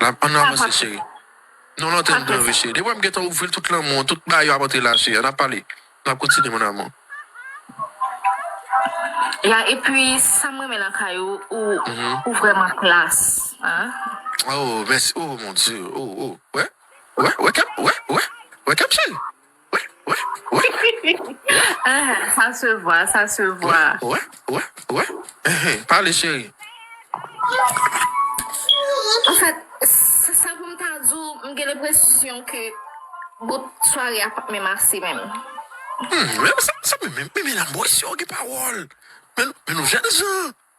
Lap ann avanse cheri. Non lan tèt mwen vre cheri. Depi wèm gentan ouvril tout lanmou an tout bagay yo ap antre la cheri ann ap pale nap kontinye mon amour. Ya epi sam renmen nan kay ou ou vreman klass ahh. Oh mèsi oh mon Dieu oh oh wè wè wè kèm wè wè wè kèm cheri. Sa se vwa, sa se vwa. Wè, wè, wè, ehe, pale cheri. Anfèt, sa pou m ta di w, m gen lenpresyon ke bout sware a pap menm ase menm. Menm sa menm, men men lanmou ayisyen yo gen pawòl. Men nou jènjan.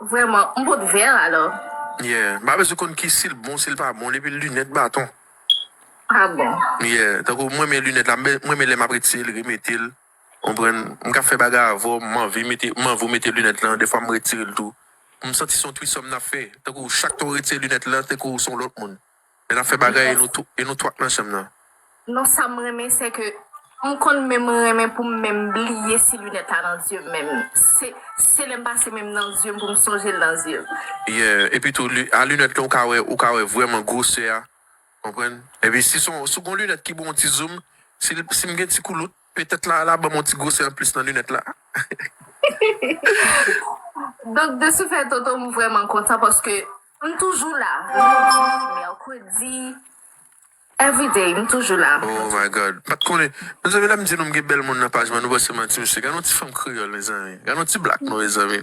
Vreman, m pot vèr alò. Yeah, m pa bezwen konn ki sil bon sil pa bon li epi lunèt baton. Ah bon. Yeah, tankou m renmen lunèt la m renmen lè map retirel remetel konprann, m ka fè bagay avèw m anvi mete m anvi w mete lunèt lan dèfwa m retirel tou m santi son twisòm nap fè tankou chak tan w retire lunèt lan tankou w son lòt moun. Men nap fè bagay e nou twòp nan chanm nan. Non sam renmen se ke m konn menm renmen poum menm bliye si lunèt la nan zye m menm se lèm pase menm nan zye m poum sonjel nan zye m. Yeah epi tou a lunèt lan ou ka wè ou ka wè vrèman gwosè a konprann epi si son sou gon lunèt ki bon ti zoum sim gen ti koulout Petèt Lala banm yon ti gwosè anplis nan linèt la. Donk de ce fait Toto m vrèman kontan paske m toujou la Lendi, Mercredi everyday m toujou la. Oh my God m pat konnen Mezanmi lèm di nou m gen bèl moun nan paj mwen nou panse manti mesye gad yon ti fanm kreyòl mezanmi gad yon ti black nou mezanmi.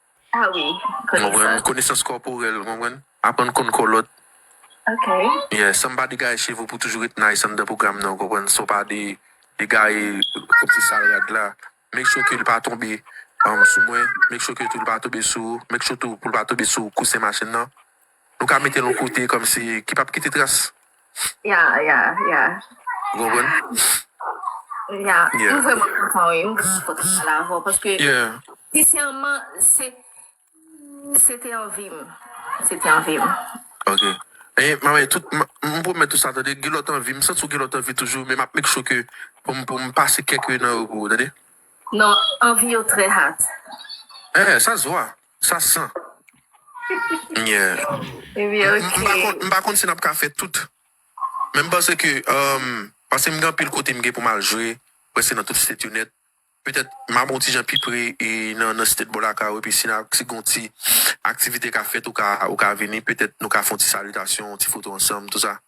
Ah wi konesans. Konesans kòporèl ou konprann. Aprann konn kò lòt. Ok. Yeah san pa degaye cheve w pou toujou ret nice anndan pwogram nan ou konprann san w pa de degaye kòmsi sal rad la make sure ke li pa tonbe sou mwen make sure ke tou li pa tonbe sou ou make sure tou pou li pa tonbe sou kousen machin nan. Nou ka mete l yon kote kòmsi ki pap kite tras. Yeah yeah yeah. Ou konprann? Yeah. M vrèman kontan wi. M vrèman kontan pale avè w paske sensèman se se te anvi m. Se te anvi m. Ok. Anyen m anyen tout m pwomèt ou sa tande gen lòt anvi m santi w gen lòt anvi toujou men m ap make sure ke pou m pou m pase kèk nan yo pou ou tande. Non anvi yo trè hat. Eeh sa se vwa. Sa san nyè. M pa konn si n ap ka fè tout. Men m panse ke, paske m gen anpil kote m gen pou m al jwe, prèske nan tout state yo nèt. Petèt m ap yon ti jan pi pre nan state bò lakay ou epi si gen yon ti aktivite k ap fèt ou ka vini petèt nou ka fè yon ti salitasyon, yon ti foto ansanm, tou sa.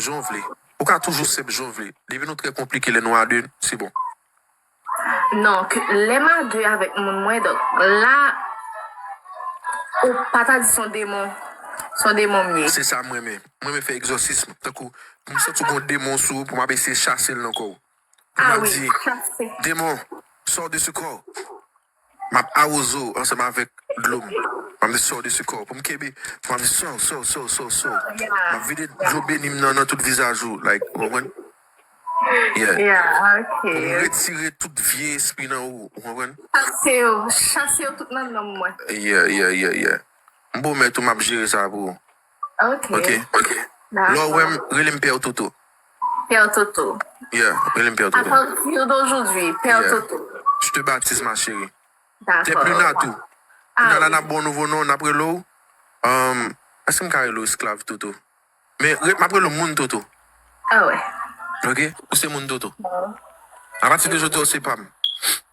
Jan w vle. Ou ka toujou senp jan w vle. Depi nou trè konplike lè nou a 2, se bon. Donk, lè m a 2 avèk moun mwen, donk, la ou pa ta di s on demon, s on demon m ye. Se sa m renmen. M renmen fè egzòsism. Tankou, pou m santi w gen yon demon sou ou, pou m ap eseye chase l nan kò w. Pou m ap di, Demon, sò de sou kò! Map awoze w ansanm avèk dlo m. Map di sow desi kò w pou m kenbe pou map di sow sow sow sow sow. Map vide dlo beni m nan nan tout vizaj ou like ou konprann? Yeah. Yeah ok. Pou m retire tout vye espri nan ou ou konprann? Chase yo, chase yo tout nan nanm mwen. Yeah yeah yeah yeah. M pwomèt ou map jere sa pou ou. Ok. Lè w wè m, rele m Père Toto. Père Toto. Yeah, rele m Père Toto. A partir d'aujourd'hui, Père Toto. Je te baptise ma chérie. Dakò. Tè Pluna tou. Pluna la n ap ba w nouvo non, n ap rele w, èske m ka rele w Esklav Toto? Men, m ap rele w Moun Toto. Awè. Ok, ou se Moun Toto. Awè. A pati de jodi a ou se pa m.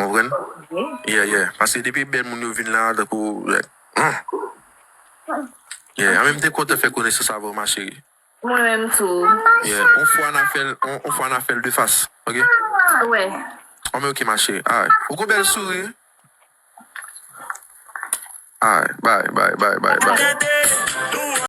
Ou konprann? Yeah, yeah. Paske depi bèl moun yo vin la a tankou Huh! Yeah, anmenm te kontan fè konesans avè w ma chérie. Mwen menm tou. Yeah, on fwa na fèl, on fwa na fèl de fas, ok? Alwe. Anmwe ok ma chérie. Alright. Ou gon bèl souri. Alright, bye, bye, bye, bye, bye.